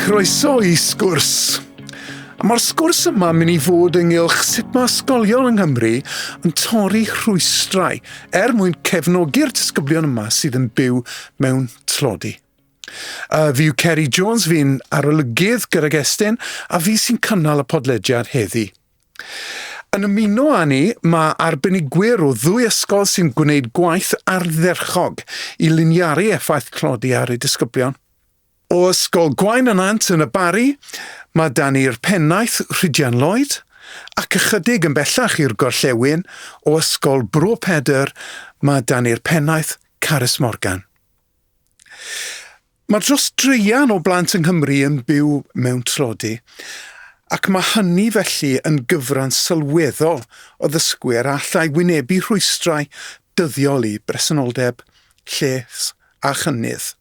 Croeso i sgwrs. Mae'r sgwrs yma mynd i fod ynghylch sut mae ysgolion yng Nghymru yn torri rhwystrau er mwyn cefnogi'r disgyblion yma sydd yn byw mewn tlodi. A fyw Ceri Jones fi'n arolygydd gydag Estyn a fi sy'n cynnal y podlediad heddi. Yn ymuno â ni, mae arbenigwyr o ddwy ysgol sy'n gwneud gwaith ardderchog i liniaru effaith tlodi ar eu disgyblion. O Ysgol Gwaun y Nant yn y Barri, mae dan ni'r pennaeth Rhydian Lloyd, ac ychydig yn bellach i'r gorllewin, o Ysgol Bro Pedr, mae dan ni'r pennaeth Carys Morgan. Mae dros draean o blant yng Nghymru yn byw mewn tlodi, ac mae hynny felly yn gyfran sylweddol o ddysgwyr a allai wynebu rhwystrau dyddiol i bresenoldeb, lles a chynnydd.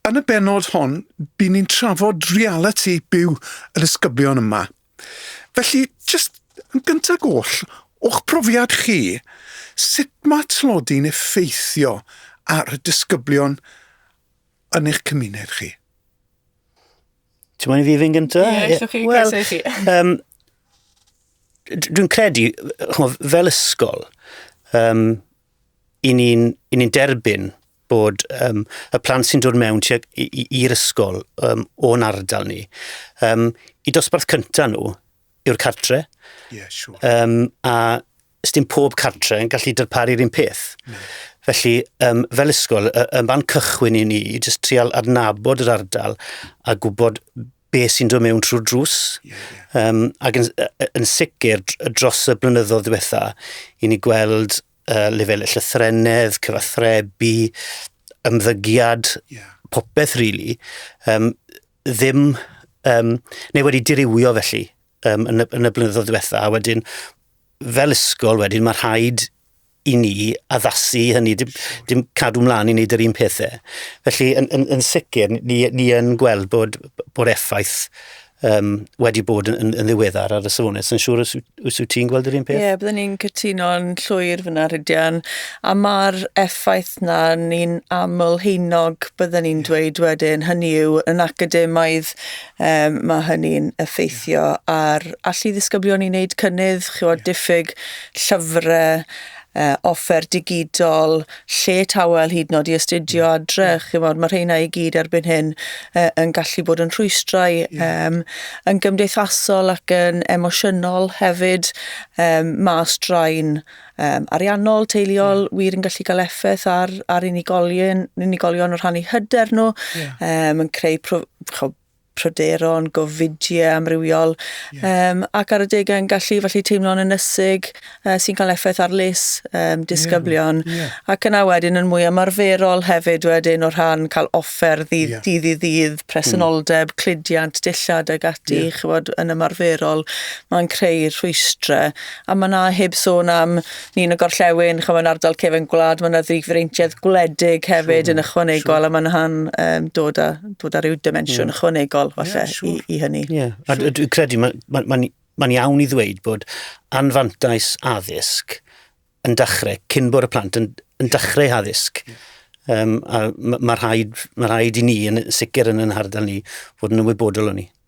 Yn y bennod hon, by'n ni'n trafod realiti byw y disgyblion yma. Felly, jyst yn gyntaf goll, o'ch profiad chi, sut mae tlodi'n effeithio ar y disgyblion yn eich cymuned chi? Ti'n mwyn i fi fynd gyntaf? Ie, yeah, chi, well, chi. Um, dwi'n credu, fel ysgol, um, i ni'n ni, ni derbyn bod um, y plant sy'n dod mewn i'r ysgol um, o'n ardal ni, um, i dosbarth cynta nhw yw'r cartre. Yeah, sure. um, a dim pob cartre yn gallu darparu'r un peth. Mm. Felly, um, fel ysgol, y, y fan cychwyn i ni, jyst trial adnabod yr ardal a gwybod be sy'n dod mewn trwy'r drws. Yeah, yeah. Um, ac yn, yn sicr, dros y blynyddoedd diwetha, i ni gweld uh, lefel y llythrenedd, cyfathrebu, ymddygiad, yeah. popeth rili, really, um, ddim, um, neu wedi dirywio felly um, yn, y, yn y blynyddoedd diwetha, a wedyn fel ysgol wedyn mae rhaid i ni addasu hynny, dim, dim cadw mlaen i wneud yr un pethau. Felly, yn, yn, yn sicr, ni, ni yn gweld bod, bod effaith um, wedi bod yn, yn, yn ddiweddar ar y safonau. Yn siŵr os, os wyt ti'n gweld yr un peth? Ie, yeah, byddwn ni'n cytuno'n llwyr fyna, Rhydian. A mae'r effaith na ni'n aml heinog, byddwn ni'n dweud wedyn, hynny yw yn academaidd Um, mae hynny'n effeithio ar allu ddisgyblion i wneud cynnydd, chywod, diffyg llyfrau, uh, offer digidol, lle tawel hyd nod i astudio mm. adre. Mm. Chymod, mae rheina i gyd erbyn hyn uh, yn gallu bod yn rhwystrau yeah. um, yn gymdeithasol ac yn emosiynol hefyd. Um, mae straen um, ariannol, teuluol, yeah. wir yn gallu cael effaith ar, ar unigolion, unigolion o rhannu hyder nhw, yeah. um, yn creu pro, cho, pryderon, gofidiau amrywiol, yeah. um, ac ar y degau yn gallu falle teimlo'n ynysig uh, sy'n cael effaith ar les um, disgyblion. Yeah. Yeah. Ac yna wedyn yn mwy ymarferol hefyd wedyn o rhan cael offer ddydd yeah. ddydd i ddydd, presenoldeb, mm. cludiant, dillad ag ati, yeah. chybod, yn ymarferol, mae'n creu rhwystrau A ma' 'na heb sôn am nin y gorllewin ch'mo' yn ardal cefyn gwlad ma' 'na ddifreintiedd gwledig hefyd yn ychwanegol a ma' 'na'n yym dod â dod â ryw dimensiwn ychwanegol falle i i hynny. Ie. A d- dwi credu ma' ma' ma'n ma'n iawn i ddweud bod anfantais addysg yn dachre cyn bod y plant yn yn dachre eu haddysg. Yym a ma' ma' rhaid ma' rhaid i ni yn sicr yn 'yn hardal ni fod yn ymwybodol o 'ny.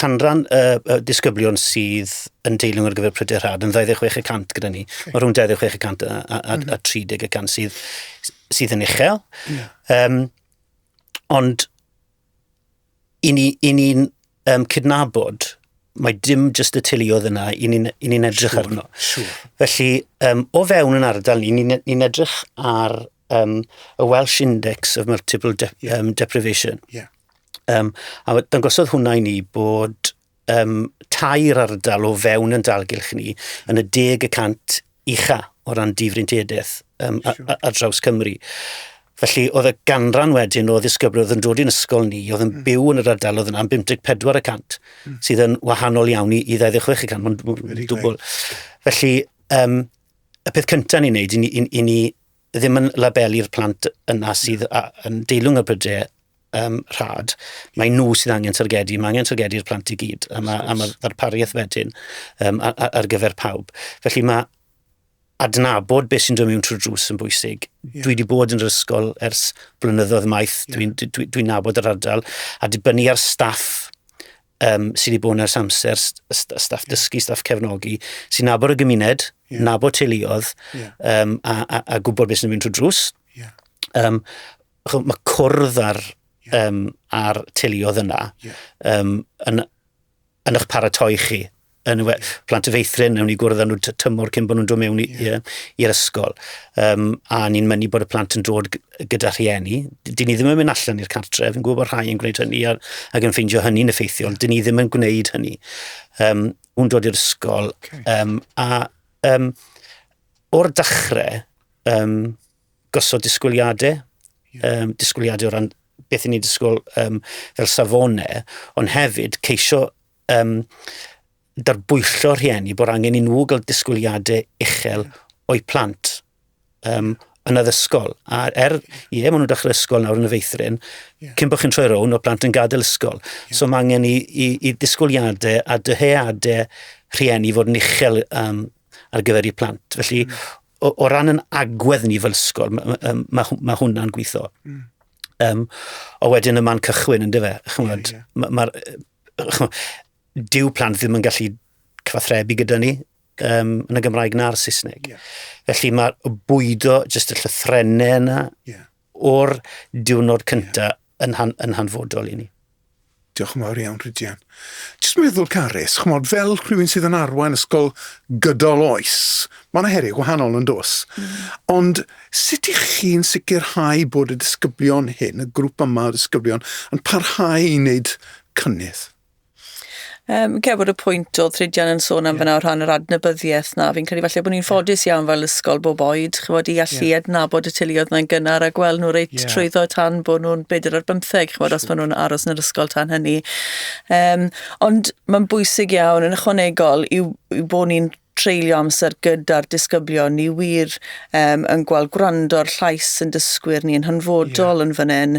canran y, y disgyblion sydd yn deilwng ar gyfer pryder rhad yn 26 y cant gyda ni. Okay. Mae rhwng 26 y cant a, a, a, mm -hmm. a 30 mhm. y cant sydd, sydd yn uchel. Yeah. Um, ond i ni'n ni, um, cydnabod mae dim jyst y tiliodd yna i ni'n ni, ni edrych sure, arno. Sure. Felly, um, o fewn yn ardal ni, ni'n ni, ni edrych ar um, y Welsh Index of Multiple de yeah. um, Deprivation. Yeah. Um, a dangosodd hwnna i ni bod um, tair ardal o fewn yn dalgylch ni yn y deg y cant ucha o ran difrintiadaeth um, sure. a, a, a draws Cymru. Felly, oedd y ganran wedyn o ddisgyblion oedd yn dod i'n ysgol ni, oedd yn hmm. byw yn yr ardal oedd yna am 54 y cant, hmm. sydd yn wahanol iawn i, i 26 y cant, mae'n dwbl. Felly, um, y peth cyntaf ni'n neud, i ni, i, ni ddim yn labelu'r plant yna sydd a, yn deilwng y brydau um, rhad, mae nhw sydd angen targedu, mae angen targedu'r plant i gyd, a mae'r ma, ma pariaeth wedyn um, ar, ar gyfer pawb. Felly mae adnabod beth sy'n dod mewn trwy drws yn bwysig. Yeah. Dwi wedi bod yn yr ysgol ers blynyddoedd maith, yeah. dwi'n dwi, dwi nabod yr ardal, a dibynnu ar staff um, sydd wedi bod yn ers amser, staff dysgu, staff cefnogi, sy'n nabod y gymuned, yeah. nabod teuluodd, yeah. um, a, a, a gwybod beth sy'n mynd trwy drws. Yeah. Um, mae cwrdd ar, yeah. um, ar teuluodd yna yeah. um, yn, yn eich paratoi chi yn y plant y feithrin, newn ni gwrdd â nhw tymor cyn bod nhw'n dod mewn i'r yeah. i, ysgol. Um, a ni'n mynnu bod y plant yn dod gyda rhieni. Dyn ni ddim yn mynd allan i'r cartref, yn gwybod bod rhai yn gwneud hynny ac, ac yn ffeindio hynny'n effeithiol. Yeah. Dyn ni ddim yn gwneud hynny. Um, nhw'n dod i'r ysgol. Okay. Um, a um, o'r dechrau, um, gosod disgwyliadau, yeah. um, disgwyliadau o ran beth i ni disgwyl um, fel safonau, ond hefyd ceisio um, darbwyllo rhieni bod angen i nhw gael disgwyliadau uchel o'i plant um, yn addysgol. A er, ie, maen nhw'n dechrau ysgol nawr yn y feithrin, yeah. cyn bod chi'n troi rown o plant yn gadael ysgol. Yeah. So mae angen i, i, i ddisgwyliadau a dyheadau rhieni fod yn uchel um, ar gyfer i plant. Felly, mm. o, o ran yn agwedd ni fel ysgol, mae ma, ma, ma hwnna'n gweithio. Mm. Um, o wedyn y man cychwyn, ynddo fe? Chymod, yeah, yeah. Mae'r ma dyw plant ddim yn gallu cyfathrebu gyda ni um, yn y Gymraeg na'r Saesneg. Yeah. Felly mae bwydo jyst y llythrenau yna yeah. o'r diwrnod cyntaf yeah. yn, han, yn hanfodol i ni. Diolch yn fawr iawn, Rhydian. Jyst meddwl, Carys, chymod, fel rhywun sydd yn arwain ysgol gydol oes, mae yna heriau gwahanol yn dos. Mm. Ond Sut ych chi'n sicrhau bod y disgyblion hyn, y grŵp yma o ddisgyblion, yn parhau i wneud cynnydd? Um, Cer bod y pwynt oedd Rhydian yn sôn am yeah. fyna o rhan yr adnabyddiaeth na. Fi'n credu falle bod ni'n ffodus yeah. iawn fel ysgol bob oed, chymod, i allu yeah. adnabod y teuluoedd mae'n gynnar a gweld nhw reit yeah. trwyddo tan bod nhw'n bedair ar bymtheg, chymod, os maen nhw'n aros yn yr ysgol tan hynny. Um, ond mae'n bwysig iawn yn ychwanegol i, i bod ni'n treulio amser gyda'r disgyblion, ni wir um, yn gweld gwrando'r llais yn dysgwyr ni yn hanfodol yeah. yn fan hyn.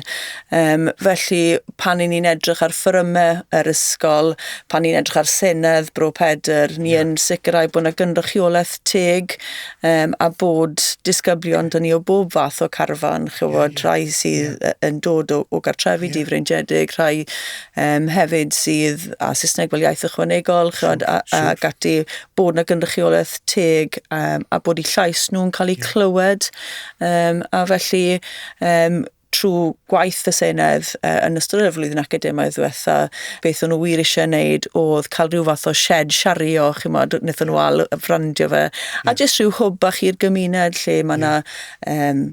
Um, felly, pan i ni'n edrych ar ffyrymau yr ysgol, pan ni'n edrych ar Senedd Bro Pedr, ni yeah. yn sicrhau bod yna gynrychiolaeth teg um, a bod disgyblion dyn ni o bob fath o carfan, chywod, yeah, yeah. rhai sydd yeah. yn dod o, o gartrefi yeah. difreintiedig, rhai um, hefyd sydd a Saesneg fel iaith ychwanegol chod, a, a gati bod yna gynrychiolaeth teg um, a bod i llais nhw'n cael eu clywed um, a felly um, trwy gwaith y Senedd uh, yn ystod y flwyddyn academaidd ddiwetha, beth o'n nhw wir eisiau wneud oedd cael rhyw fath o shed siario, chi'n modd, wnaethon nhw al frandio fe, a jyst rhyw hwb bach i'r gymuned lle mae yna um,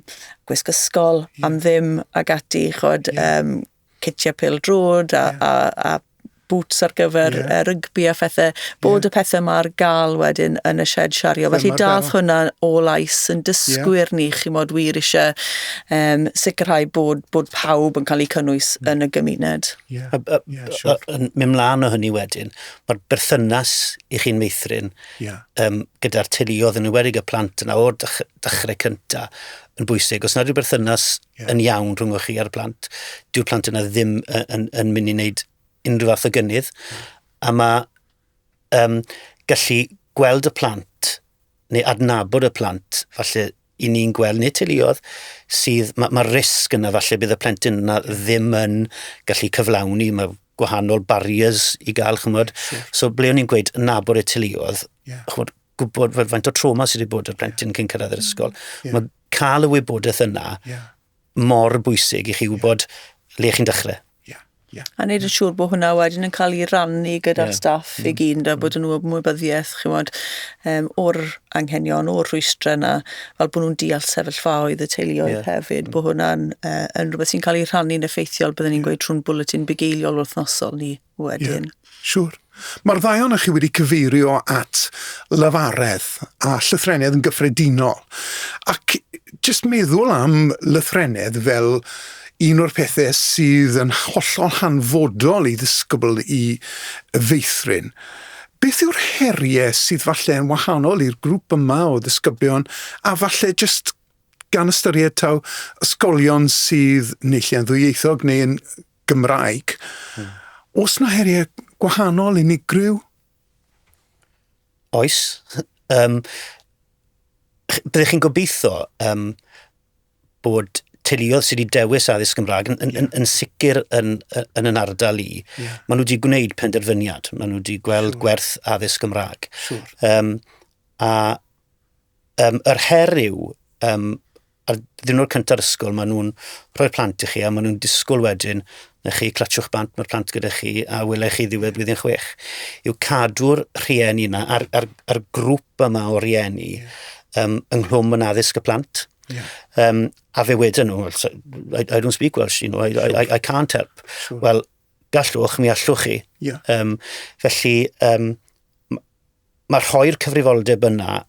gwisg ysgol am ddim ag ati, chod, um, citiau pêl-drod a, yeah. a, a boots ar gyfer yeah. uh, rygbi a phethau, bod yeah. y pethau yma ar gael wedyn yn y shed siario. Felly dath hwnna o lais yn dysgwyr yeah. ni, chi mod wir eisiau um, sicrhau bod, bod pawb yn cael eu cynnwys mm. yn y gymuned. Yeah. A, a, yeah, sure. a, a, mynd mlaen o hynny wedyn, mae'r berthynas i chi'n meithrin yeah. um, gyda'r teuluodd yn ymwedig y plant yna o'r dechrau cyntaf yn bwysig. Os nad yw'r berthynas yeah. yn iawn rhwng chi a'r plant. Dyw'r plant yna ddim yn, yn, yn mynd i wneud unrhyw fath o gynnydd. Mm. A mae um, gallu gweld y plant neu adnabod y plant, falle i ni'n gweld, neu teuluodd, sydd, mae'r ma risg yna falle bydd y plentyn yna ddim yn gallu cyflawni, mae gwahanol barriers i gael, chymod. Sure. So, ble o'n i'n gweud, nabod y teuluodd, yeah. chymod, gwybod faint o trauma sydd wedi bod y plentyn cyn cyrraedd yr ysgol. Yeah. Mae cael y wybodaeth yna yeah. mor bwysig i chi wybod yeah. le chi'n dechrau. Yeah. Yeah. A wneud yn siŵr bod hwnna wedyn yn cael ei rannu gyda'r yeah. staff mm. i gyd, a bod nhw ymwybyddiaeth chymod, um, o'r anghenion, o'r rhwystrau yna, fel bod nhw'n deall sefyllfaoedd y teuluoedd yeah. hefyd, mm. bod hwnna'n uh, yn rhywbeth sy'n cael ei rannu'n effeithiol, byddwn ni'n yeah. gweud trwy'n bwletin bugeiliol wythnosol ni. wedyn. Ie, siŵr. Mae'r ddau ohonoch chi wedi cyfeirio at lefaredd a llythrennedd yn gyffredinol. Ac jyst meddwl am lythrennedd fel un o'r pethau sydd yn hollol hanfodol i ddisgybl i feithrin. Beth yw'r heriau sydd falle yn wahanol i'r grŵp yma o ddisgyblion a falle jyst gan ystyried taw ysgolion sydd neu lle yn ddwyieithog neu yn Gymraeg. Oes 'na heriau gwahanol, unigryw? Oes. Um, byddwch chi'n gobeithio um, bod teuluoedd sydd wedi dewis addysg Gymraeg yn, yn, yn, yn sicr yn, yn yn ardal i, yeah. maen nhw wedi gwneud penderfyniad, maen nhw wedi gweld sure. gwerth addysg Gymraeg. Sure. Um, a um, yr her yw, um, Ar ddiwrnod cynta'r ysgol, maen nhw'n rhoi'r plant i chi a maen nhw'n disgwyl wedyn na chi clatsiwch bant mae'r plant gyda chi a wylech chi ddiwedd blwyddyn chwech. Yw cadw'r rhieni yna a'r, a'r, a'r grŵp yma o rieni um, ynghlwm yn addysg y plant. Yeah. Um, a fe wedyn nhw, I, I don't speak Welsh, you know, I, I, I can't help. Sure. Wel, Gallwch, mi allwch chi. Yeah. Um, felly, um, mae rhoi'r cyfrifoldeb yna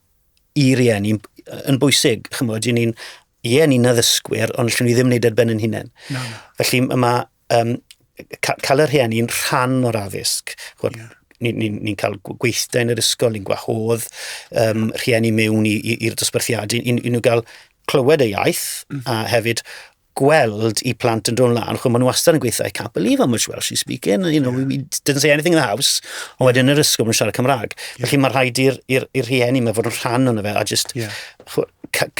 i rieni yn bwysig. Chymod, i ni'n, ie, ni'n addysgwyr, ond lle ni ddim wneud ar ben yn hunain. No, no. Felly, mae um, cael yr rhieni'n rhan o'r addysg. Chymod, yeah ni'n ni, ni cael gweithdau yn yr ysgol, ni'n gwahodd um, rhieni mewn i'r dosbarthiadau, i, i, i nhw gael clywed y iaith, mm. a hefyd gweld i plant yn dod lan, chwe, maen nhw wastad yn gweithio, I can't believe how much Welsh she's speaking, you know, we didn't say anything in the house, ond wedyn yr ysgol yn siarad Cymraeg. Yeah. Felly mae rhaid i'r rhieni mae fod yn rhan o'n fe, a just yeah.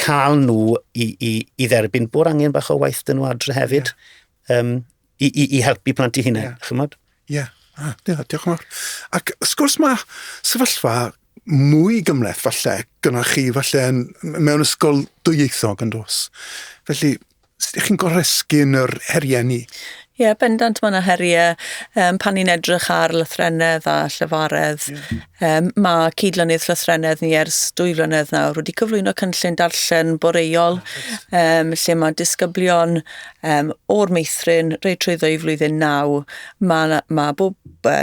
cael nhw i, i, i dderbyn bod angen bach o waith dyn nhw adre hefyd. Yeah. Um, i, i, i helpu plant i hunain, yeah. chymod? Ie, yeah. ah, yeah, diolch yn fawr. Ac wrth gwrs mae sefyllfa mwy gymleth falle gyda chi falle yn, mewn ysgol dwyieithog yn dos. Felly, sut ydych chi'n goresgu yn yr heriau ni? Ie, yeah, bendant mae yna heriau um, pan ni'n edrych ar lythrennedd a llyfaredd. Yeah. Um, mae cydlynydd llythrennedd ni ers dwy flynedd nawr wedi cyflwyno cynllun darllen boreol um, lle mae disgyblion um, o'r meithrin rei trwyddo i flwyddyn naw. Mae, mae bob uh,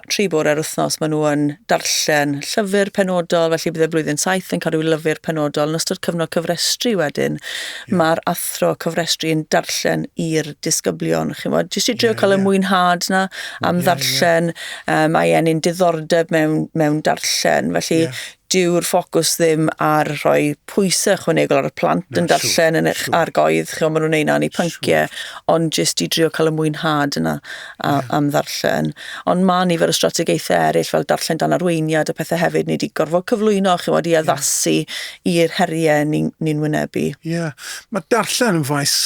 tri bore ar wythnos maen nhw yn darllen llyfr penodol, felly bydd y flwyddyn saith yn cael rhyw lyfr penodol. Yn ystod cyfnod cyfrestru wedyn, yeah. mae'r athro cyfrestru yn darllen i'r disgyblion. Chi'n bod, jyst i drio yeah, cael yeah. y mwynhad na am yeah, ddarllen. Yeah Uh, mae e'n un diddordeb mewn, mewn darllen, felly yeah. dyw'r ffocws ddim ar rhoi pwysau chwanegol ar y plant no, yn darllen yn eich argoedd, chi'n maen nhw'n ei na'n ei pynciau, ond jyst i drio cael y mwynhad yna a, yeah. am ddarllen. Ond mae nifer o strategaethau eraill fel darllen dan arweiniad a pethau hefyd, ni wedi gorfod cyflwyno, chi'n wedi addasu yeah. i'r heriau ni'n ni, wynebu. Ie, yeah. mae darllen yn faes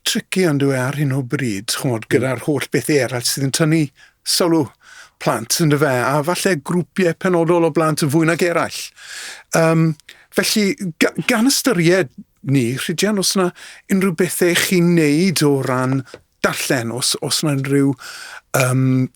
tricky yndyw e ar hyn o bryd, ch'mod, hmm. gyda'r holl bethe eraill sydd yn tynnu sylw plant, yndyw fe, a falle grwpiau penodol o blant yn fwy nag eraill. Um, felly, gan ystyried ni, Rhydian, os yna unrhyw bethau chi'n neud o ran darllen, os, os yna unrhyw um,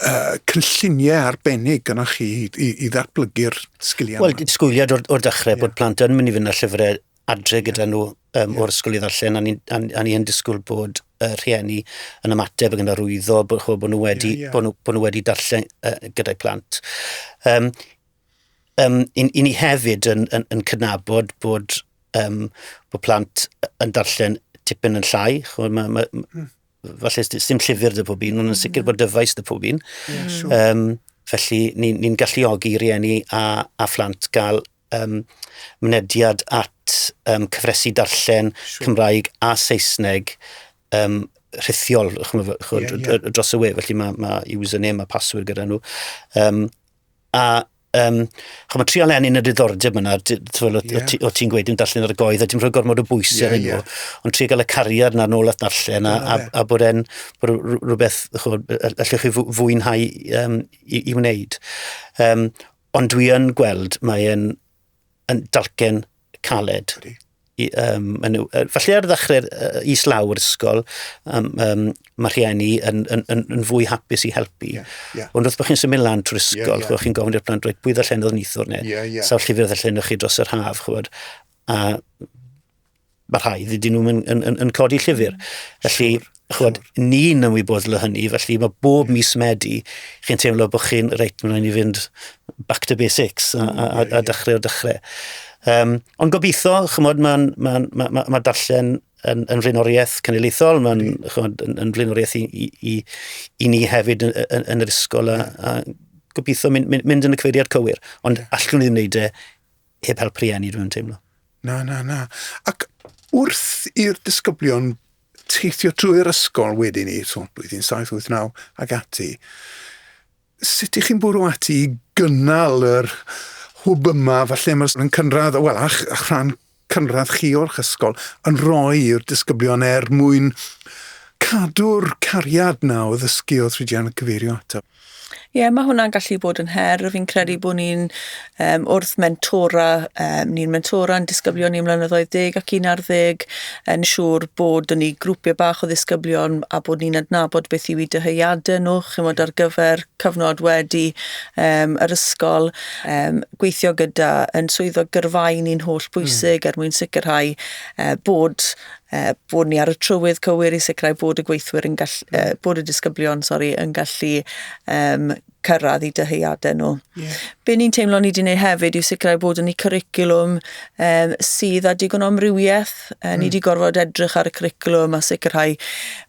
uh, cynlluniau arbennig gyda chi i, i ddatblygu'r sgiliau? Wel, disgwyliad o'r, or dechrau yeah. bod plant yn mynd i fynd â llyfrau adre gyda nhw um, o'r ysgol i ddarllen, a ni, a, a ni yn disgwyl bod uh, rhieni yn ymateb ac yn arwyddo bod, bod, nhw wedi, yeah, yeah. bod, nhw, bod nhw wedi darllen uh, gyda'i plant. Um, um, i, i ni hefyd yn, yn, yn cydnabod bod, um, bod plant yn darllen tipyn yn llai. Chod, ma, ma, mm. Falle dim llyfr dy pob un, ond yn sicr hmm. bod dyfais dy pob un. Yeah, sure. um, felly ni'n ni, ni galluogi rieni a, a phlant gael um, mynediad at um, cyfresu darllen sure. Cymraeg a Saesneg um, rhithiol chymod, chymod, yeah, yeah. dros y we, felly mae ma username a password gyda nhw. Um, a um, chymod, tri alen yn y diddordeb yna, yeah. o ti'n gweud yn darllen ar y goedd, a dim rhoi gormod o bwys yeah, ar hyn yeah. ond tri gael y cariad na'r nôl at darllen, a, a, a bod e'n rhywbeth allwch chi fwynhau um, i, i wneud. Um, Ond dwi yn gweld, mae e'n yn dalcen caled. Ydy. I, um, yn, falle ar ddechrau uh, i slaw'r ysgol, um, um, mae rhieni yn, yn, yn, yn fwy hapus i helpu. Yeah, yeah. Ond wrth bod chi'n symud lan trwy'r ysgol, yeah, yeah. chi'n gofyn i'r plant dweud pwy ddallen oedd nithwr neu yeah, yeah. sawl llyfr ddallen chi dros yr haf, chwbod. A mae rhai, dydyn nhw'n yn, yn, yn, yn codi llyfr. Mm. Felly, chwod, ni'n ymwyboddol o hynny, felly mae bob mis Medi, chi'n teimlo bod chi'n, reit, mae'n rhaid i fynd back to basics a, a, a, a dechrau o dechrau. Um, ond gobeithio, chymod, mae'n ma, ma, ma, ma darllen yn, yn flaenoriaeth cynulleithol, mae'n yn, yn flaenoriaeth i, i, i, i ni hefyd yn, yn, yn yr ysgol a, a gobeithio mynd, mynd, mynd yn y cyfeiriad cywir, ond allwn ni ddim wneud e heb help rhieni, dwi'n teimlo. Na, na, na. Ac wrth i'r disgyblion teithio trwy'r ysgol wedyn ni, so blwyddyn 789 ag ati, sut ych chi'n bwrw ati i gynnal yr hwb yma, falle mae'n cynradd, wel, a'ch, a'ch rhan cynradd chi o'ch ysgol, yn rhoi i'r disgyblion er mwyn cadw'r cariad na o ddysgu oedd Rhydian yn cyfeirio ato? Ie, mae hwnna'n gallu bod yn her. Fi'n credu bod ni'n um, wrth mentora, um, ni'n mentora yn disgyblion ni mlynyddoedd deg ac un ar ddeg, yn siŵr bod yn ni grwpiau bach o ddisgyblion a bod ni'n adnabod beth yw i dyheuadau nhw, chymod ar gyfer cyfnod wedi um, yr ysgol, um, gweithio gyda yn swyddog gyrfaen ni'n holl hmm. bwysig mm. er mwyn sicrhau uh, bod uh, bod ni ar y trywydd cywir i sicrhau bod y gweithwyr yn gallu, uh, mm. bod y disgyblion, sori, yn gallu um, cyrraedd i dyheuadau nhw. Yeah. Be ni'n teimlo ni wedi gwneud hefyd yw sicrhau bod yn y curriculum um, sydd â digon o amrywiaeth. Uh, mm. Ni wedi gorfod edrych ar y curriculum a sicrhau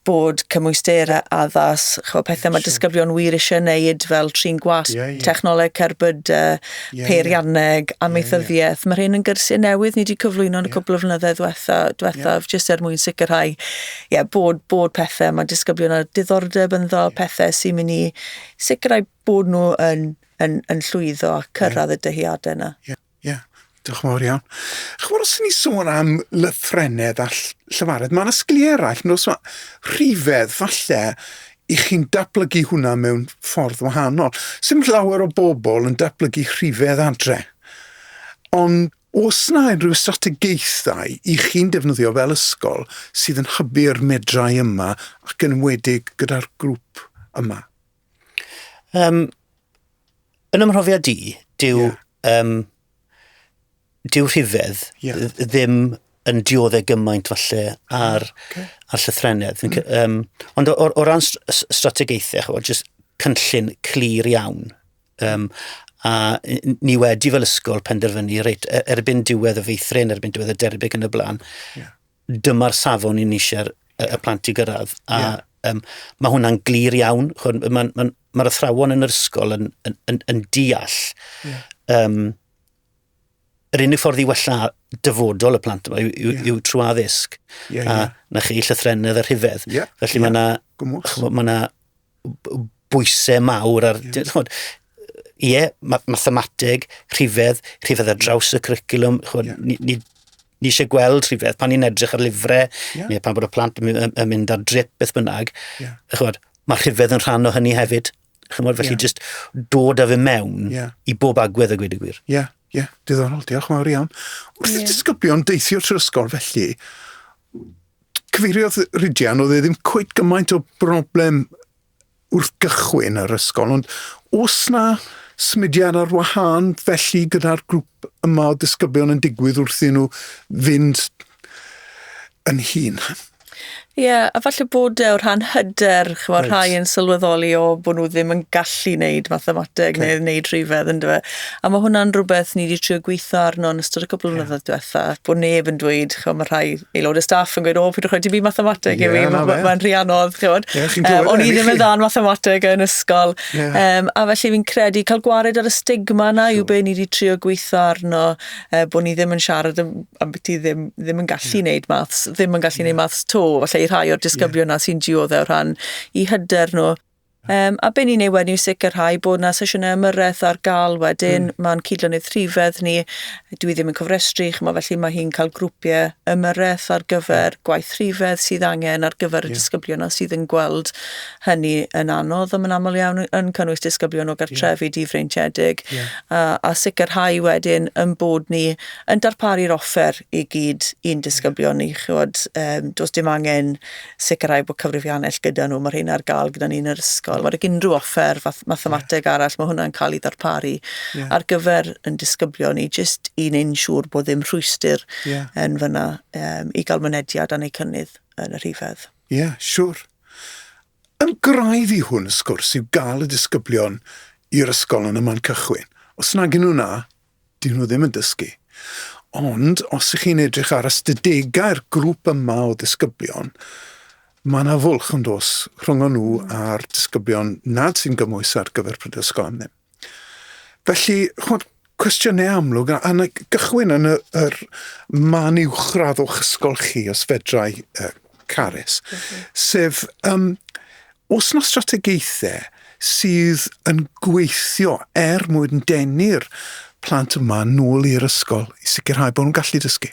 bod cymwysterau addas, ch'mo' pethe ma' disgyblion wir isie neud fel trin gwasg... Ie, ie. ...technoleg cerbyd, yy... Ie, ie. ...peirianneg, amaethyddiaeth. Ie, ie. Ma' rhein yn gyrsie newydd ni 'di cyflwyno yn y... Ie. ...cwpwl o flynydde ddwetha, dwethaf... Ie. ...jyst er mwyn sicrhau ie bod bod pethe ma' disgyblion â diddordeb ynddo... Ie. ...pethe sy myn' i sicrhau bod nw yn yn yn llwyddo a cyrradd... Ie. ...y dyheade 'na. Ie. Ie, diolch yn fawr iawn. Chimod, os y'n ni sôn am lythrennedd a llyfared, mae yna sgiliau eraill nos ma rhifedd, falle, i chi'n datblygu hwnna mewn ffordd wahanol. Sym llawer o bobl yn datblygu rhifedd adre. Ond os na unrhyw strategaethau i chi'n defnyddio fel ysgol sydd yn hybu'r medrau yma ac yn wedig gyda'r grŵp yma? Um, yn ymhrofiad i, dyw, yeah. um, dyw rhifedd yeah. ddim yn dioddau gymaint falle ar, ah, okay. ar llythrenedd. Mm. Um, ond o, o, o ran strategaethau, chwa, just cynllun clir iawn. Um, a ni wedi fel ysgol penderfynu, reit, e, erbyn diwedd y feithrin, erbyn diwedd y derbyn yn y blaen, yeah. dyma'r safon i ni eisiau'r y plant i gyrraedd. A yeah. um, mae hwnna'n glir iawn. Mae'r ma, ma, ma athrawon yn yr ysgol yn, yn, yn, yn deall yeah. um, yr unig ffordd i wella dyfodol y plant yma yw, yw, yeah. yw trwy addysg. Yeah, a yeah. na chi llythrenedd y rhifedd. Yeah, Felly yeah. mae yna ma bwysau mawr ar... Yeah. Ie, yeah, mathemateg, rhifedd, rhifedd ar draws y curriculum. Chod, yeah. ni, ni, ni eisiau gweld rhywbeth pan ni'n edrych ar lyfrau, yeah. neu pan bod y plant yn mynd ar drip beth bynnag. Yeah. Chod, mae rhywbeth yn rhan o hynny hefyd. Chymod, felly yeah. just dod â fe mewn yeah. i bob agwedd y gwyd y gwir. Ie, yeah, ie, yeah. diddorol, diolch yn fawr iawn. Wrth yeah. i disgyblion deithio trwy ysgol felly, cyfeiriodd Rhydian, oedd e ddim cwyd gymaint o broblem wrth gychwyn yr ysgol, ond os na symudiad ar wahân felly gyda'r grŵp yma o disgyblion yn digwydd wrth i nhw fynd yn hun. Ie, yeah, a falle bod e o rhan hyder, chymod, right. rhai yn sylweddoli o bod nhw ddim yn gallu wneud mathemateg okay. neu wneud rhywbeth, ynddo fe. A mae hwnna'n rhywbeth ni wedi trio gweithio arno yn ystod y cwpl yeah. mlynyddoedd diwetha, bod neb yn dweud, chymod, mae rhai aelod y staff yn gweud, o, pwyd rhaid i fi mathemateg yeah, i fi, mae'n ma rhy anodd, chymod. Yeah, um, o'n i ddim yn dda'n mathemateg yn ysgol. Yeah. Um, a felly fi'n credu cael gwared ar y stigma yna yw be ni wedi trio gweithio arno, uh, bod ni ddim yn siarad am, am beth i ddim, ddim yn gallu yeah. neud maths, ddim yn gallu yeah. neud maths to, felly i rhai o'r disgyblion yeah. na sy'n dioddau o rhan i hyder nhw. Um, a be ni'n ei wedi sicrhau bod yna sesiynau ymyrraeth ar gael wedyn, mm. mae'n cydlynydd rhifedd ni, dwi ddim yn cofrestru, chymod, felly mae hi'n cael grwpiau ymyrraeth ar gyfer mm. gwaith rhifedd sydd angen ar gyfer yeah. y disgyblion a sydd yn gweld hynny yn anodd, a mae'n aml iawn yn cynnwys disgyblion o gartrefi yeah. difreintiedig, yeah. a, a sicrhau wedyn yn bod ni yn darparu'r offer i gyd i'n disgyblion ni, chymod, um, does dim angen sicrhau bod cyfrifiannell gyda nhw, mae'r rheina ar gael gyda ni yn yr ysgol. Mae'r unrhyw offer fath mathemateg yeah. arall, mae hwnna'n cael ei ddarparu yeah. ar gyfer yn disgyblion ni, jyst i neu'n siŵr bod ddim rhwystyr yeah. yn fyna um, i gael mynediad a neu cynnydd yn y rhifedd. Ie, yeah, siwr. Sure. Yn graidd i hwn, y sgwrs, yw gael y disgyblion i'r ysgol yn y man cychwyn. Os nag yn nhw na, 'Dyn nhw ddim yn dysgu. Ond os ych chi'n edrych ar ystadegau'r grŵp yma o ddisgyblion, mae yna fwlch yn dos rhwng nhw hmm. a'r disgyblion nad sy'n gymwys ar gyfer prydysgol am ddim. Felly, chwod, cwestiynau amlwg, a, a gychwyn yn y, yr man uwchradd o'ch ysgol chi, os fedrai uh, Carys, sef yym oes 'na strategaethau sydd yn gweithio er mwyn denu'r plant yma nôl i'r ysgol i sicrhau bod nhw'n gallu dysgu?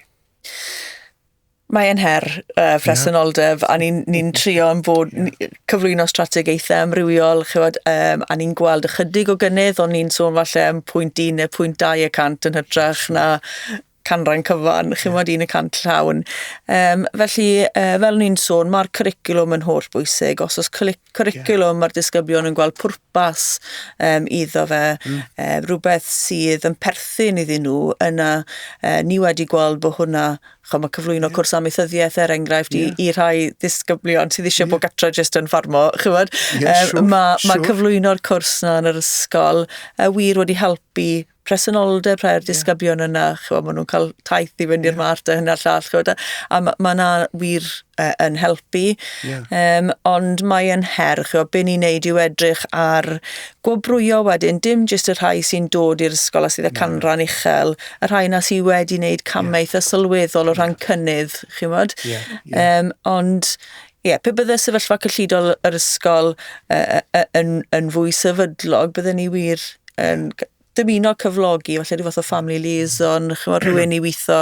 Mae'n her uh, presenoldeb, yeah. a ni'n ni trio yn bod yeah. cyflwyno strategaethau amrywiol, chywod, um, a ni'n gweld ychydig o gynnydd, ond ni'n sôn falle am pwynt 1 neu pwynt 2 y cant yn hytrach yeah. na canran cyfan, chi'n yeah. un y cant llawn. Um, felly, uh, fel ni'n sôn, mae'r curriculum yn holl bwysig. Os oes curriculum, yeah. mae'r disgyblion yn gweld pwrpas um, iddo fe, mm. uh, rhywbeth sydd yn perthyn iddyn nhw, yna uh, ni wedi gweld bod hwnna Chom, mae cyflwyno yeah. cwrs amaethyddiaeth er enghraifft yeah. i, i rhai ddisgyblion sydd eisiau yeah. bod gatra jyst yn ffarmo. Chywed, yeah, um, sure, mae sure. ma cyflwyno'r cwrs na yn yr ysgol uh, wir wedi helpu presenoldeb rhai o'r disgyblion yeah. yna, chwa, maen nhw'n cael taith i fynd i'r yeah. mart a hynna'r llall, chwa, a mae ma yna wir uh, yn helpu, yeah. um, ond mae yn her, chwa, be ni'n neud yw edrych ar gwobrwyo wedyn, dim jyst y rhai sy'n dod i'r ysgol a sydd y no. canran uchel, y rhai yna sydd wedi wneud camau yeah. eitha sylweddol o ran yeah. cynnydd, chi'n modd, yeah. yeah. um, ond Ie, pe bydde sefyllfa cyllidol yr ysgol yn, yn fwy sefydlog, bydden ni wir yn dymuno cyflogi falle rhyw fath o family liaison, chymod hmm. rhywun i weithio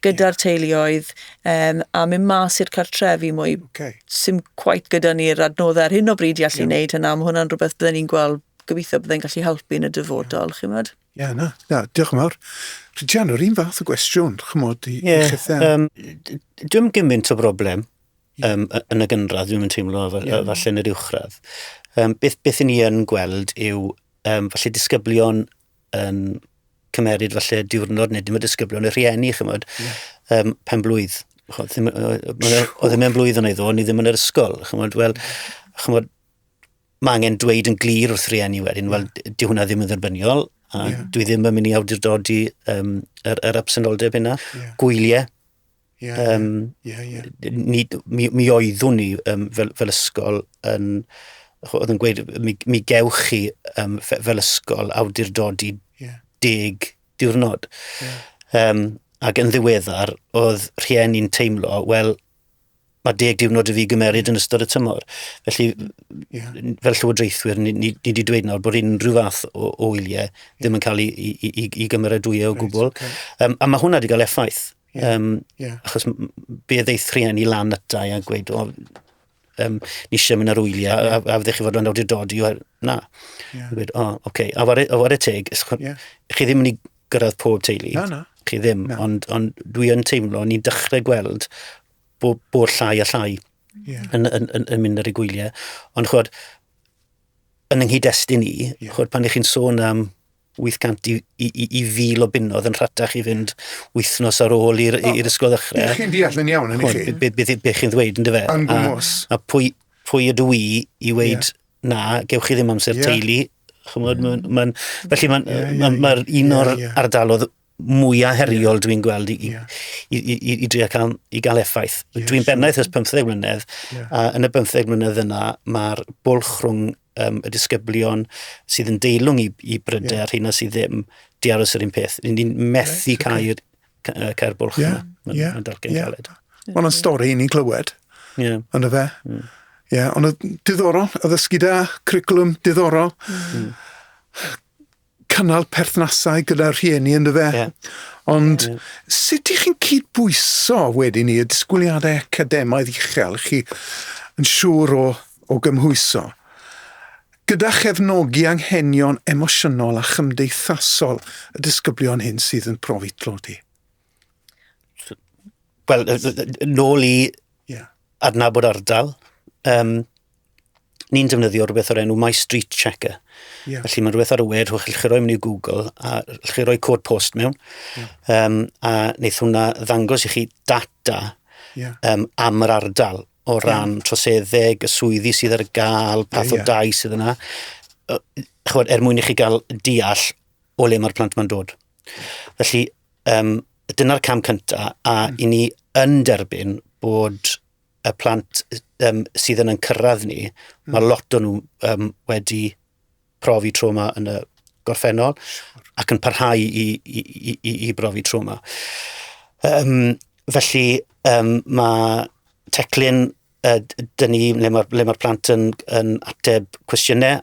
gyda'r teuluoedd um, a mynd mas i'r cartrefi mwy. Okay. Sym quite gyda ni'r adnoddau ar hyn o bryd i allu yeah. wneud hynna, mae hwnna'n rhywbeth byddwn ni'n gweld gobeithio byddai'n gallu helpu yn y dyfodol, yeah. chymod. Ie, na, na, diolch yn fawr. Rhian, yr un fath o gwestiwn, chymod, i, yeah, i chithau. Um, dwi'n gymaint o broblem um, yn y gynradd, dwi'n teimlo yeah. falle yn yr uwchradd. Um, beth, beth ni yn gweld yw um, falle disgyblion yn cymeryd falle diwrnod neu dim y disgyblion, y rhieni, chymod, yeah. um, pen blwydd. Oedd ddim yn blwydd yn ei ddo, ni ddim yn yr ysgol. Chymod, wel, chymod, mae angen dweud yn glir wrth rieni wedyn, wel, di hwnna ddim yn dderbyniol, a yeah. dwi ddim yn mynd i awdurdodi um, yr, yr absenoldeb yna. Yeah. Gwyliau. Yeah, um, yeah, yeah. Ni, mi, mi oeddwn ni um, fel, fel ysgol yn oedd yn gweud, mi, mi gewch chi um, fel ysgol awdurdodi yeah. deg diwrnod. Yeah. Um, ac yn ddiweddar, oedd rhieni'n teimlo, wel, mae deg diwrnod i fi gymeryd yn ystod y tymor. Felly, fel llywodraethwyr, ni, ni, ni wedi dweud nawr bod unrhyw fath o, o wyliau ddim yn cael ei, ei, ei, ei gymeradwyo o gwbl. Right, okay. um, a mae hwnna wedi cael effaith. Yeah, um, yeah. Achos be ddeith rhieni lan ytau a gweud, o, um, ni eisiau mynd ar wyliau, yeah. a, a fyddech chi fod yn awdurdodi, na. Yeah. Gweud, o, oce, okay. a war y teg, yeah. chi ddim yn ei gyrraedd pob teulu. Na, na. Chi ddim, na. ond, ond dwi yn teimlo, ni'n dechrau gweld bod, bod llai a llai yeah. yn, yn, yn, yn mynd ar y gwyliau. Ond chwod, yn yng destyn ni, yeah. chwod, pan ych chi'n sôn am 800 i, i, i, i fil o bunnodd yn rhatach i fynd wythnos ar ôl i'r oh, ysgol ddechrau. Ych chi'n deall yn iawn, yn chi? Beth chi'n ddweud, yn dyfe? Yn gwmwys. A, a pwy, pwy ydw i i weid yeah na, gewch chi ddim amser yeah. teulu. Chymod, mm. mae'n, mae'n, felly mae'n yeah, yeah, ma, ma yeah, un o'r yeah, yeah. ardalodd mwyaf heriol dwi'n gweld i, yeah. i, i, i, i drio cael, i gael effaith. Yes, dwi'n bennaeth ys 15 mlynedd, yeah. a yn y 15 mlynedd yna, mae'r bwlch rhwng um, y disgyblion sydd yn deilwng i, i bryder yeah. a rhywun sydd ddim di aros yr un peth. Ni'n methu right, cael okay. cair bwlch yeah, yma. Yeah, yn dalcyn yeah. galed. Mae hwnna'n stori i ni glywed. Yeah. Ond y fe. Mm. Yeah, ond y diddorol, y ddysgu da, curriculum diddorol. Mm. Cynnal perthnasau gyda rhieni yn y fe. Yeah. Ond yeah. sut ych chi'n cydbwyso wedyn ni y disgwyliadau academaidd uchel chi yn siŵr o, o gymhwyso? Gyda chefnogi anghenion emosiynol a chymdeithasol y disgyblion hyn sydd yn profi tlodi. Wel, nôl i yeah. adnabod ardal, um, ni'n defnyddio rhywbeth o'r enw My Street Checker. Yeah. Felly mae'n rhywbeth ar y we, rhywbeth chi roi mewn i Google, a chi roi cod post mewn, yeah. um, a wneud hwnna ddangos i chi data yeah. um, am yr ardal. o ran troseddeg, y swyddi sydd ar gael, path o dai sydd yna, chod, er mwyn i chi gael deall o le mae'r plant mae'n dod. Felly, um, dyna'r cam cyntaf, a mm. i ni yn derbyn bod y plant um, sydd yn yn cyrraedd ni, mm. mae lot o nhw um, wedi profi trauma yn y gorffennol ac yn parhau i, i, i, i, i brofi trauma. Um, felly um, mae teclyn uh, dyn ni le mae'r ma plant yn, yn ateb cwestiynau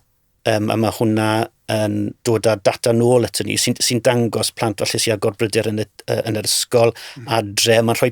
um, a mae hwnna yn dod â data nôl at ni sy'n sy dangos plant falle sy'n agor bryder yn, y, yn yr ysgol mm. adre. Mae'n rhoi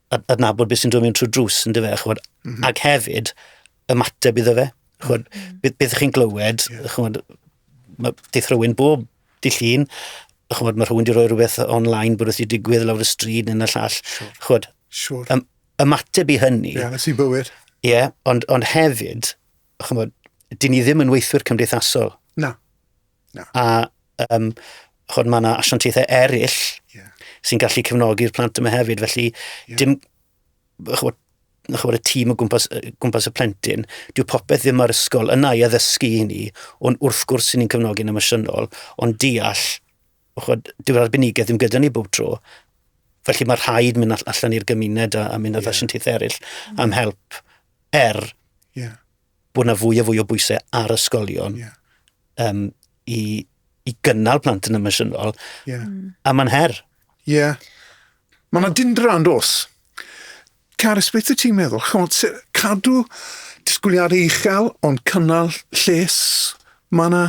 adnabod beth sy'n dod mewn trwy drws, yn dyfa, chwod, mm -hmm. ac hefyd ymateb iddo fe. Chwod, mm -hmm. beth, beth chi'n glywed, yeah. chwod, mae deith rhywun bob di llun, chwod, mae rhywun wedi rhoi rhywbeth online bod wrth i digwydd lawr y stryd neu yn y llall. Sure. Chwod, sure. Ym, ymateb i hynny. Ie, yeah, sy'n bywyd. Ie, yeah, ond, ond hefyd, chwod, dyn ni ddim yn weithwyr cymdeithasol. Na. Na. A um, chod, mae yna asiantaethau eraill yeah. sy'n gallu cefnogi'r plant yma hefyd, felly yeah. dim, chod, chod, y tîm o gwmpas, gwmpas y plentyn, dyw popeth ddim ar ysgol yna i addysgu i ni, ond wrth gwrs sy'n ni'n cefnogi'n emosiynol, ond deall, chod, dyw'r arbenigedd ddim gyda ni bob tro, felly mae rhaid mynd allan i'r gymuned a, a mynd â yeah. asiantaethau eraill am help er yeah. bod yna fwy a fwy o bwysau ar ysgolion yeah. um, i, i gynnal plant yn emosiynol, yeah. Mm. a mae'n her. Ie. Yeah. Mae yna dindra yn dos. Carys, beth y ti'n meddwl? Chymod, cadw disgwyliadau uchel, ond cynnal lles, mae yna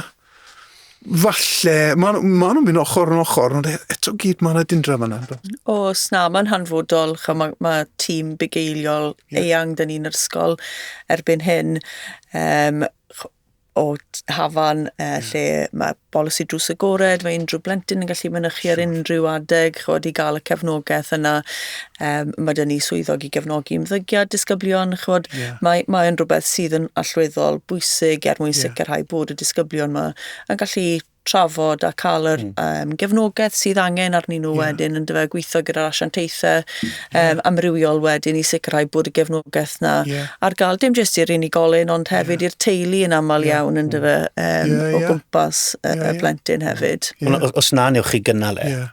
Falle, maen nhw, ma nhw'n mynd ochr yn ochr, ond e, eto gyd mae yna dindra fan yna. Os na, mae'n hanfodol. Chwa, mae, ma tîm bugeiliol yeah. eang dyn ni'n yr ysgol erbyn hyn. Um, o hafan uh, yeah. lle mae bolisi drws agored, mae unrhyw blentyn yn gallu mynychu ar unrhyw adeg, chod i gael y cefnogaeth yna. Um, mae dyn ni swyddog i gefnogi ymddygiad disgyblion. Chymod, yeah. mae, mae yn rhywbeth sydd yn allweddol bwysig er mwyn yeah. sicrhau bod y disgyblion yma yn gallu trafod a cael yr mm. um, gefnogaeth sydd angen arnyn nhw yeah. wedyn yn dyfa gweithio gyda'r asiantaethau um, yeah. amrywiol wedyn i sicrhau bod y gefnogaeth na yeah. ar gael dim jyst i'r unigolyn ond hefyd yeah. i'r teulu yn aml yeah. iawn yn mm. dyfa um, yeah, yeah. o gwmpas y, yeah, yeah. plentyn hefyd. Yeah. Os na newch chi gynnal e, yeah.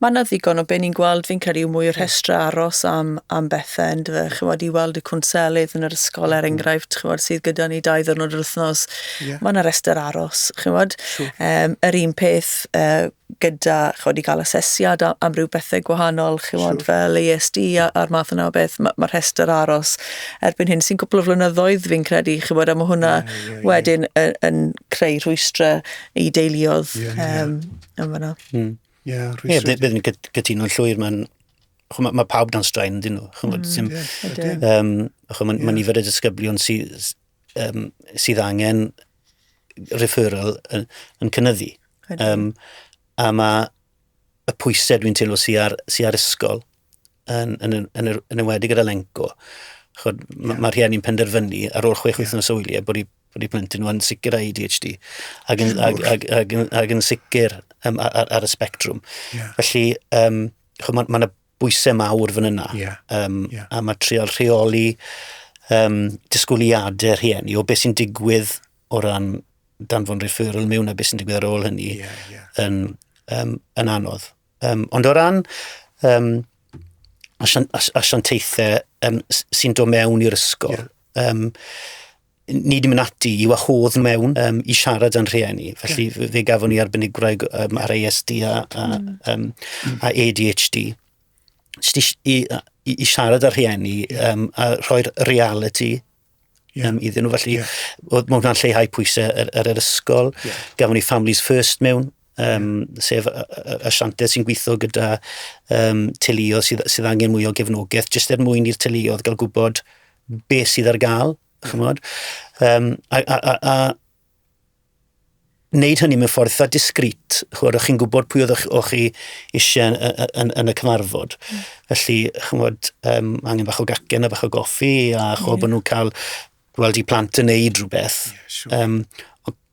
Mae yna ddigon o be ni'n gweld, fi'n credu, yw mwy o rhestrau aros am, am bethau, yn dyfe? Chymod, i weld y cwnselydd yn yr ysgol, er enghraifft, chymod, sydd gyda ni dau ddwrnod yr wythnos. Yeah. Mae yna rhestr aros, chymod. Sure. Um, yr un peth uh, gyda, chymod, i gael asesiad am, am ryw bethau gwahanol, chymod, sure. fel ASD a'r math yna o beth. Mae ma rhestr aros erbyn hyn sy'n gwbl o flynyddoedd, fi'n credu, chymod, a mae hwnna yeah, yeah, yeah. wedyn yn, yn creu rhwystrau i deuluodd. Yeah, yeah. Um, Yn fanna. Mm. Yeah, yeah, bydd yn gytuno'n llwyr, mae'n mae ma pawb dan straen, dyn nhw. Chymod, mm, sy'n, yeah, um, chymod, yeah. Mae nifer y disgyblion sydd, um, sydd angen referral yn, yn cynnyddu. Um, a mae y pwysau dwi'n teimlo sy'n ar, sy ar ysgol yn, yn, yn, yn, yn ymwedig gyda lenco. Chod, yeah. Mae'r rhieni'n penderfynu ar ôl chwech yeah. wythnos o wyliau bod i bod i plentyn nhw yn sicr â ADHD ac yn, ac, ac, ac, ac yn sicr um, ar, ar, y spectrwm. Yeah. Felly, um, mae yna ma bwysau mawr fan yna. Yeah. Um, yeah. A mae trial rheoli um, disgwyliadau rhieni o beth sy'n digwydd o ran danfon referral mewn a beth sy'n digwydd ar ôl hynny yeah, yeah. Yn, um, yn anodd. Um, ond o ran um, asiantaethau um, sy'n dod mewn i'r ysgol, yeah. um, ni di mynd ati i wahodd mewn um, i siarad â'n rhieni. Felly yeah. fe gafon ni arbenigwraig um, ar ASD a, a, um, a ADHD. Sti, i, i, i siarad â'r rhieni um, a rhoi'r reality yeah. um, iddyn nhw. Felly, yeah. mae hwnna'n lleihau pwysau ar, ar yr ysgol. Yeah. Gafon ni Families First mewn um, sef y, y, y sianted sy'n gweithio gyda um, teuluodd sydd, sydd angen mwy o gefnogaeth, jyst er mwyn i'r teuluodd gael gwybod beth sydd ar gael, chymod. Um, a, a, a, a wneud hynny mewn ffordd eitha discreet, chymod, o'ch chi'n gwybod pwy oedd o'ch chi eisiau yn, yn, yn, y cyfarfod. Mm. Felly, chymod, um, angen bach o gacen a bach o goffi, a chymod, yeah. bod nhw'n cael gweld i plant yn neud rhywbeth. Yeah, sure. um,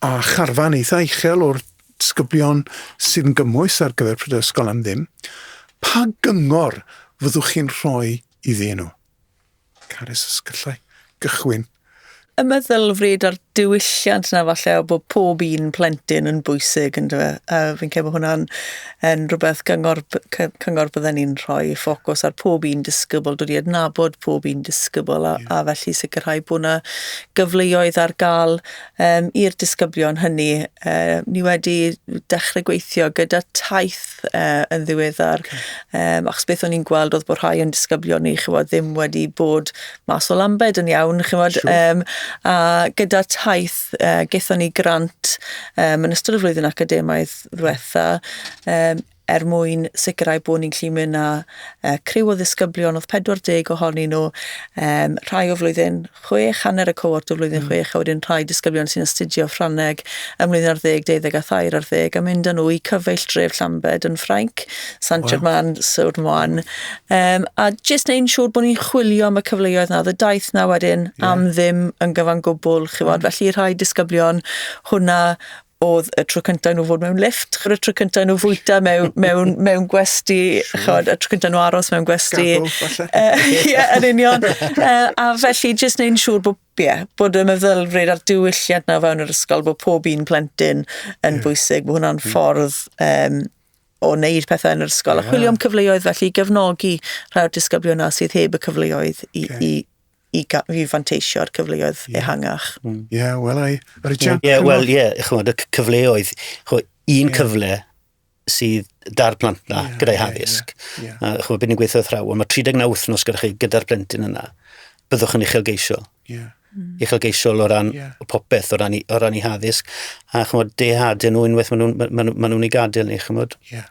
a charfan eitha uchel o'r disgyblion sydd yn gymwys ar gyfer Prydau Ysgol am Ddim, pa gyngor fyddwch chi'n rhoi iddyn nhw? Carys, os gallai gychwyn. Y meddylfryd a'r diwylliant yna falle o bod pob un plentyn yn bwysig yn dyfa. A fi'n cael bod hwnna'n yn rhywbeth gyngor, cyngor bydden ni'n rhoi ffocws ar pob un disgybl, dod i adnabod pob un disgybl a, yeah. a felly sicrhau bod yna gyfleoedd ar gael um, i'r disgyblion hynny. Uh, ni wedi dechrau gweithio gyda taith uh, yn ddiweddar, okay. um, achos beth o'n i'n gweld oedd bod rhai o'n disgyblion ni, chymod, ddim wedi bod mas o Lambed yn iawn, chymod, sure. um, a gyda taith, uh, gethon ni grant um, yn ystod y flwyddyn academaidd ddiwetha, um, er mwyn sicrhau bod ni'n gallu mynd â uh, criw o ddisgyblion, oedd 40 ohonyn nhw, um, rhai o flwyddyn 6, hanner y cohort o flwyddyn mm. 6, a wedyn rhai disgyblion sy'n astudio Ffrangeg ym mlynedd ar ddeg, deuddeg a thair ar ddeg, a mynd â nhw i cyfeill dref Llambed yn Ffrainc, Sant wow. Germain, Sŵr Moan, um, a jyst neu'n siŵr bod ni'n chwilio am y cyfleoedd na, y daith na wedyn yeah. am ddim yn gyfan gwbl, chi fod, mm. felly rhai disgyblion hwnna oedd y tro cyntaf nhw fod mewn lift, chod y tro cyntaf nhw fwyta mewn, mewn, mewn gwesti, chod y tro cyntaf nhw aros mewn gwesti. Ie, yn union. a felly, jyst neu'n siŵr bod, yeah, bod y meddylfryd a'r diwylliant na fewn yr ysgol, bod pob un plentyn yn yeah. bwysig, bod hwnna'n hmm. ffordd um, o wneud pethau yn yr ysgol. Yeah. A chwilio am cyfleoedd felly i gefnogi rhai'r disgyblion na sydd heb y cyfleoedd i, okay. i i, i fanteisio ar cyfleoedd yeah. ehangach. Ie, mm. yeah, wel ei, Richard? Ie, yeah, wel ie, yeah, chymod, y cyfleoedd, chymod, un yeah. cyfle sydd da'r plant na yeah, gyda'i haddysg. Yeah, yeah, yeah. A chymod, byd ni'n gweithio thraw, ond mae 39 wythnos gyda chi gyda'r plentyn yna, byddwch yn uchelgeisiol. Yeah. Mm. uchelgeisiol o ran yeah. popeth, o ran, i, o ran i haddysg, a chymod, dehad yn nhw unwaith maen nhw'n ma nhw, ma nhw, ma nhw i gadael ni, chymod. Yeah.